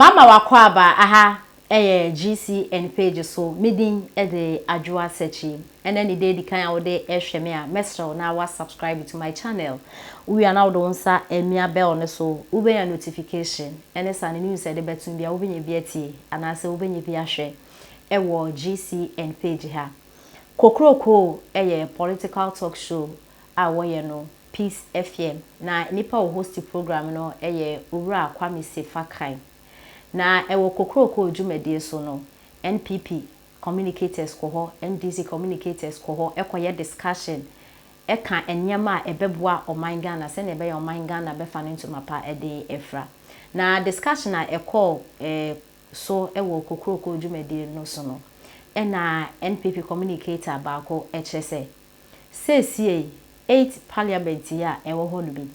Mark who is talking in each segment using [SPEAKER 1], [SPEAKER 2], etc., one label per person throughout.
[SPEAKER 1] Bama w'akwaaba aha yɛ GCN page so, me din de Adwoa Sekyi. Ɛnɛ ne da edikan a wode rehwɛ me a, mɛsrɛ wo na wa subscribe to my channel. Wowie a na wode wo nsa amia bell no so, wobɛnya notification ɛne saa no news a yɛde bɛto biara wobɛnya bi atie anaasɛ wobɛnya bi ahwɛ wɔ GCN page ha. Kokroko yɛ political talk show a wɔyɛ no Peace Afiem na nipa a ɔhosti program no yɛ Owura Kwame Sefa Kan. Na wɔ kokroko dwumadie so no, NPP communicators kɔ hɔ, NDC communicators kɔ hɔ kɔyɛ discussion ka nneɛma a ɛbɛboa ɔman Ghana sɛdeɛ ɛbɛyɛ a ɔman Ghana bɛfa ne ntoma pa de afira. Na discussion a ɛkɔɔ so wɔ kokroko dwumadie no so no, ɛna NPP communicator baako kyerɛ sɛ, Seesei eight parliament yi a ɛwɔ hɔ no bi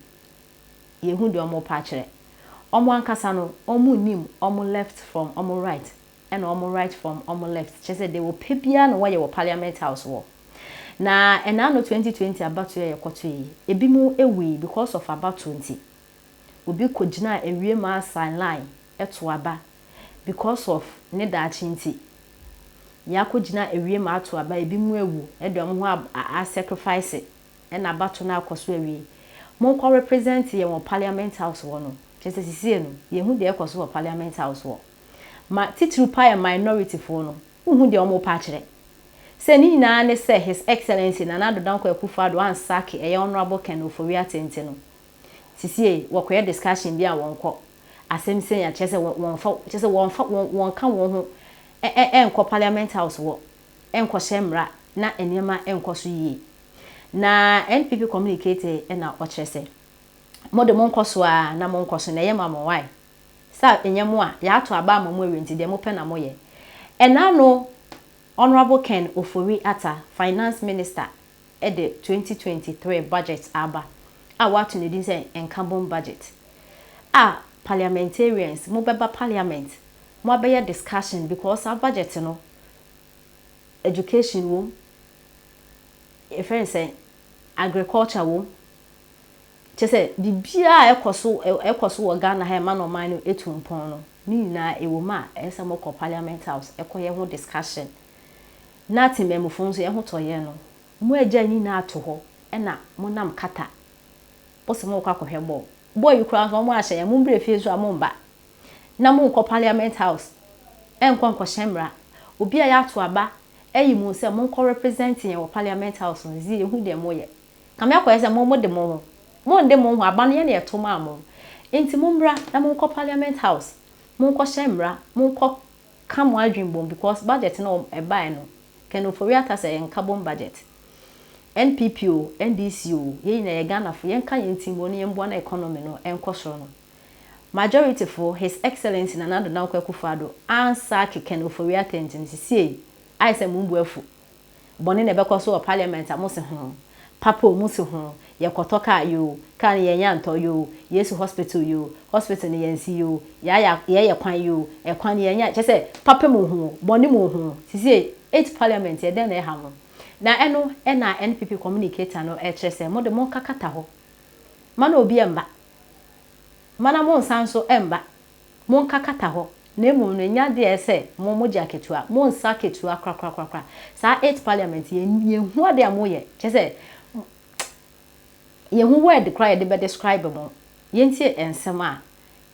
[SPEAKER 1] yɛhu deɛ wɔn pa kyerɛ. Wɔn ankasa no wɔn nnim wɔn left from wɔn right ɛna wɔn right from wɔn left kyerɛ sɛ deɛ wɔpɛ biara na wɔyɛ wɔ parliament house hɔ. Na ɛna ano twenty twenty abatoɔ a yɛkɔtoeɛ yi ebinom wuui because of abatoɔ nti. Obi kogyinaa awie maa sign line ɛto aba because of ne daakye nti. Yɛakogyina awie maa ato aba, ebinom awu ɛde wɔn ho a sacrifice ɛna bato no akɔ so awie. Monkɔ represent yɛn wɔ parliament house hɔ no, kyerɛ sɛ sesie no yɛnhu deɛ ɛkɔ so wɔ parliament house hɔ. Ma titiriw paa yɛn minority foɔ no, wonhu deɛ wɔrepɛ akyerɛ. Sɛ ne nyinaa ne sɛ His Excellency Nana Addo Dankwa Akufo Addo ansack ɛyɛ Honourable Ken Ofori-Atte nti no, Sisiei wɔkɔyɛ discussion bi a wɔnkɔ. Asɛm sei a kyerɛ sɛ wɔnfa kyerɛ sɛ wɔnfa wɔn wɔnka wɔn ho ɛ ɛ ɛnkɔ parliament house hɔ ɛnkɔhyɛ mmra na nneɛma ɛnkɔ so yie. Na NPP communicate ɛna ɔkyerɛ sɛ mo de monkɔ so ara na monkɔ so na ɛyɛ ma mo why? Sɛ ɛnyɛ mo a yɛato aba ama mo awie nti deɛ mopɛ na moyɛ. Ɛna no Honourable Ken Ofori Atta, Finance Minister de twenty twenty three budget aba a wɔato no din sɛ Nkabom Budget a Parliamentarians mo bɛba Parliament mo abɛyɛ discussion because saa budget no Education wom, yɛfrɛ no sɛn, Agriculture wom, kyerɛ sɛ biribiara a ɛkɔ so ɛkɔ so wɔ Ghana ha a ɛma no ɔman no tu mpɔn no ne nyinaa ɛwom a ɛyɛ sɛ mokɔ Parliament House kɔyɛ ho discussion. Na temammufo nso, yɛn ho tɔ yɛn no. Moagyae ne nyinaa ato hɔ na monam kata bo sɛ morekɔ akɔhwɛ bɔɔl. Bɔɔl yi koraa nso, wɔahyɛ yɛn, Mommrɛ fie nso a, mommba, na monnkɔ Parliament House nnkɔ nkɔhyɛ mmara. Obi a yɛato aba ayi mo sɛ monkɔ represent yɛn wɔ Parliament House no, dze yehu deɛ moyɛ. Kame akɔyɛ sɛ mo mode mo ho. Monnde mo ho, aba no, yɛn na yɛto maa mo. Enti mommra na monkɔ Parliament House, monkɔhyɛ mmara, monkɔ Ka mo adwen bom because budget no wɔn ɛbaɛ no Ken Ofori Atta sɛ yɛn nka bom budget. NPP o, NDC o, yɛn nyinaa yɛ Ghanafo yɛn ka yɛn ti mbom na yɛn boa na economy no ɛnkɔ soro no. Majority fo His Excellency Nana Addo Dankwa Akufo Addo ansaake Ken Ofori Atta nti no sisiei ayɛ sɛ mo mbu afu Bɔne na ɛbɛkɔ so wɔ parliament a mo se ho, papa o mo se ho, yɛ kɔtɔ car yoo, car no yɛn nya ntɔ yoo, yesu hospital yoo, hospital no yɛn si yoo, yaya yɛ yɛ kwan yoo, ɛkwan no yɛn nya kyɛ sɛ papa mu ho, bɔne mu ho, sesie eight parliament yɛ dɛn na ɛha mo? Na ɛno ɛna NPP communicator no ɛkyerɛ sɛ mo de mo nka kata hɔ, mana obi ɛmba, mana mo nsa nso ɛmba. Monkakata hɔ, na mmom no, nya deɛ ɛyɛ sɛ mo, mogye akatua. Monsa akatua korakorakorakora. Saa Eighth Parliament, yɛ, yɛnhu adeɛ a moyɛ. Kyerɛ sɛ, yɛnhu word koraa a yɛde bɛdescribe mo. Yɛntie nsɛm a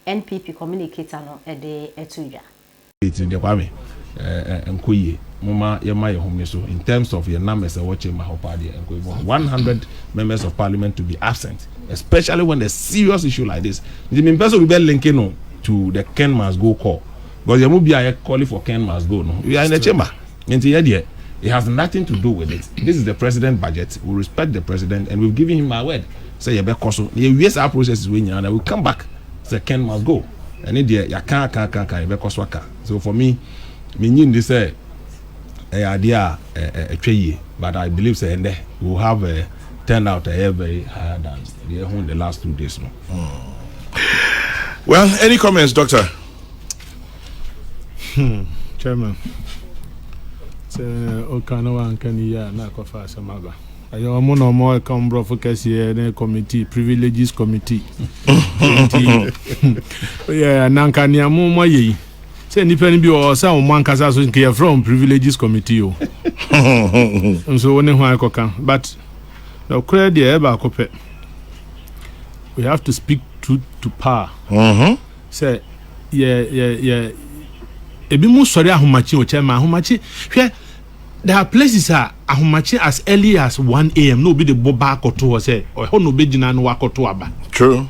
[SPEAKER 1] NPP communicator no de too dwa. Eti deɛ Kwame,
[SPEAKER 2] ɛɛ ɛnkɔ yie. Momma yɛmma yɛn home so. In terms of yɛn numbers a ɛwɔ chamber hɔ paa deɛ, ɛnkɔ yie. But one hundred members of parliament to be absent, especially when a serious issue like this. Nti mempɛ sɛ obi bɛ linke no to the Ken must go call. Because yɛn mu biara yɛ call for Ken must go no, we are in the chamber. Nti yɛn deɛ, it has nothing to do with it. This is the president budget, we respect the president and we've given him our word sɛ yɛbɛkɔ so na yɛawie saa processes wei nyinaa na we come back sɛ Ken must go. Ɛne deɛ yɛaka aka aka aka yɛbɛkɔ so aka so for me mennye nni sɛ ɛyɛ adeɛ a ɛtwa yie but I believe sɛ ɛnɛ we will have a turnout a ɛyɛ very higher than deɛ ɛho in the last two days no. Hmm.
[SPEAKER 3] Well, any comments, doctor? Hmm,
[SPEAKER 4] chairman. Sɛ ɔka na wanka ne yie a na akɔfa asɛm aba. Ɛyɛ
[SPEAKER 3] ɔmo na ɔmo ɛka ɔmo brɔfo kɛseɛ ne committee privileges committee nti yɛ nanka nea mo mo ayɛ yi sɛ nipa no bi wɔ hɔ sɛ ɔmo ankasa so nka yɛfrɛ ɔmo privileges committee o nso wo ne ho akɔka but nɔkorɛ deɛ ɛyɛ baako pɛ we have to speak truth to power mm-hmm. sɛ yɛ yɛ yɛ ebi mu sɔre ahomakye o kyɛ ma ahomakye hwɛ. There are places a ahomakye as early as one AM na obi de bo ba akɔto hɔ sɛ ɛhɔ na obegyina na wakɔto aba. True.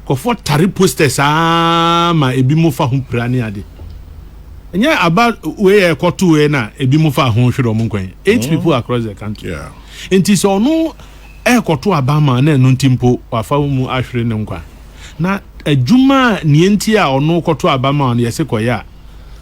[SPEAKER 4] Nkurɔfoɔ
[SPEAKER 3] tare posters ara ma ebinom fa ho pira ne ade. Ɛnyɛ aba wei a ɛkɔtoeɛ na ebinom fa ho hwere wɔn nkwan. Eight people across the country. Yeah. Nti sɛ
[SPEAKER 4] ɔno
[SPEAKER 3] ɛrekɔto aba ma na ɛno nti mpo wafa wɔn mu ahwere ne nkwa. Na adwuma a nea nti a ɔno kɔto aba ma no yɛse kɔyɛ a,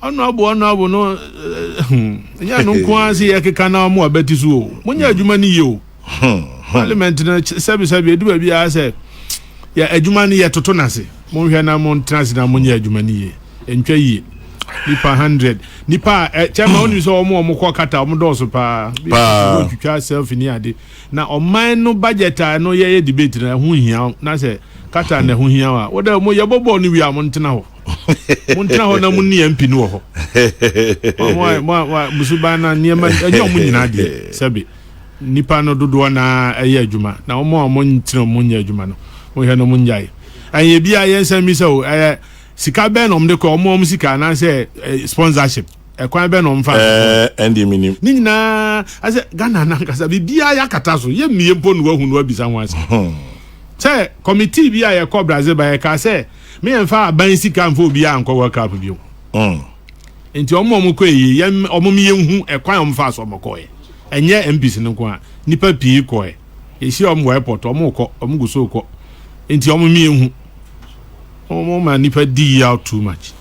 [SPEAKER 3] Ɔnoabo ɔnoabo no nyɛ ɛno nko ara sɛ yɛkeka na ɔmo abati so o. Monyɛ adwuma no yie o. Parliament no sɛbesɛbe ɛdu baabi a sɛ yɛ adwuma no yɛ toto no ase. Monhwɛ na montena ase na monyɛ adwuma no yie. Ɛntwa yie. Nipa hundred. Nipa a kyɛ ma wonim sɛ ɔmo ɔmo kɔ kata ɔmo dɔɔso paa. Paa. Twitwa selfie ne ade. Na ɔman no budget a ɛno yɛyɛ debate no ɛho hia na sɛ kata na ɛho hia wa. Woda mo yɛbɔ bɔɔl no wie a montena hɔ. montena hɔ na monni yɛn mpi no wɔ hɔ musuban na nneɛma ɛnyɛ ɔmo nyinaa deɛ sɛbi nipa no dodoɔ na ɛyɛ adwuma na ɔmo a ɔmo nkyerɛ ɔmo nyɛ adwuma no mohwɛ no ɔmo nyae ɛyɛ bi a yɛn nsɛm mi sɛ o ɛyɛ sika bɛn na ɔmo de kɔ ɔmo ɔmo sika anaasɛ sponsorship ɛkwan bɛn na ɔmo fa ɛndi mi nim
[SPEAKER 4] ne nyinaa
[SPEAKER 3] asɛ Ghana nankasa biribiara yɛ akata so yɛ mmie mpo no wahu no abisa ho ase sɛ committee bi a yɛkɔ Brazil ba yɛka sɛ Me yɛn fa aban sika nfa obiara nkɔ World Cup bio. Mm. Nti ɔmo ɔmo kɔ eyi yɛn ɔmo mi yɛn hu ɛkwan ɔmo fa so ɔmo kɔ yɛ. Ɛnyɛ MPs no nko a nipa pii kɔ yɛ. Yɛhyia ɔmo wɔ airport ɔmo kɔ ɔmo gu so kɔ. Nti ɔmo mi yɛn hu. Ɔmo ma nipa di yaw too much.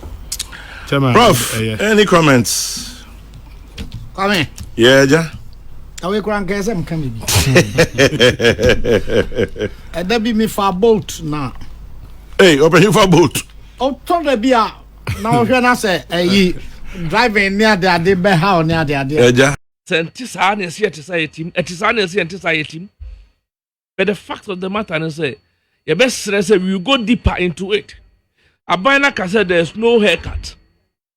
[SPEAKER 3] Chairman, Prof, ɛyɛ. any
[SPEAKER 4] comments?
[SPEAKER 5] Kwame. Yɛ agya.
[SPEAKER 4] Kawe kura nkɛyɛ
[SPEAKER 5] sɛ mka me bi. Ɛda bi mefa boat na. Ee,
[SPEAKER 4] ɔbɛhin fa boat. Ɔtɔ da bi
[SPEAKER 5] a na ɔhwɛ na sɛ ɛyi driving ne ade ade bɛha ɔne ade ade. Ɛgya. Sɛ nti
[SPEAKER 4] saa na ɛsi
[SPEAKER 6] ɛte saa yɛtim, ɛte saa na ɛsi ɛnte saa yɛtim. But the fact of the matter is sɛ yɛbɛsrɛ sɛ we go deeper into it. Aban no aka sɛ there is no haircut.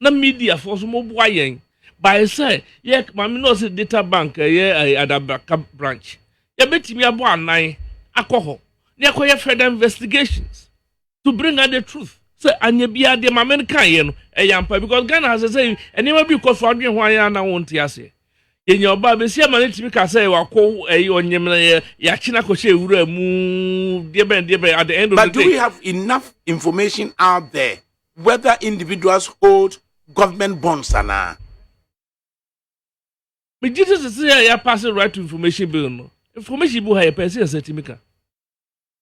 [SPEAKER 6] Na media foɔ nso mo boa yɛn by sɛ yɛ maame no ɔse data bank ɛyɛ ɛyɛ adabraka branch yɛbɛtumi abɔ anan akɔ hɔ na yɛkɔyɛ further investigations to bring out the truth sɛ anyɛ biara deɛ maame no kaeɛ no ɛyɛ ampa because Ghana ha sɛ sɛ nneɛma bi rekɔ so adwene ho ayɛ ana wonte aseɛ yɛnya ɔbaa bɛsi ama no tumi ka sɛ wako ɛyɛ ɔnyemena yɛ yɛakye no akɔhyɛ wura mu deɛ bɛn deɛ bɛn at the end of the day. But do we have enough
[SPEAKER 7] information out there? whether individuals hold government bonds anaa.
[SPEAKER 6] Megye sɛ sese a yɛapase right to information bill no information bi wɔ ha yɛpɛ sɛ yɛsɛ tumi ka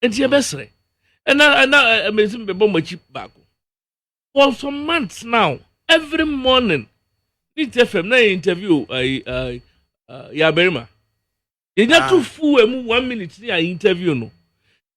[SPEAKER 6] nti yɛbɛsrɛ ɛna ɛna ɛmɛsi bɛbɔ mo akyi baako for some months now every morning ne tɛ fam na yɛ interview ayi ayi yɛ abɛrima yɛnya to full emu one minute ne yɛ interview no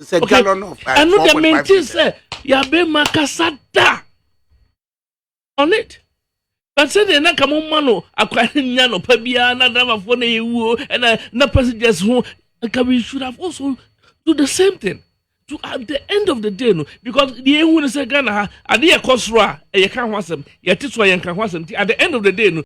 [SPEAKER 7] It's a okay. gallon of uh, And not the maintain
[SPEAKER 6] say yabe makasa da on it. But say the na kamo mano akwari nya no pa bia na driver for na ewu and uh, na passengers ho nka we should have also do the same thing. To at the end of the day no because the ehu ne say Ghana ha ade yɛ kɔ soro a ɛyɛ ka ho asɛm yɛte so a yɛn ka ho asɛm ti at the end of the day no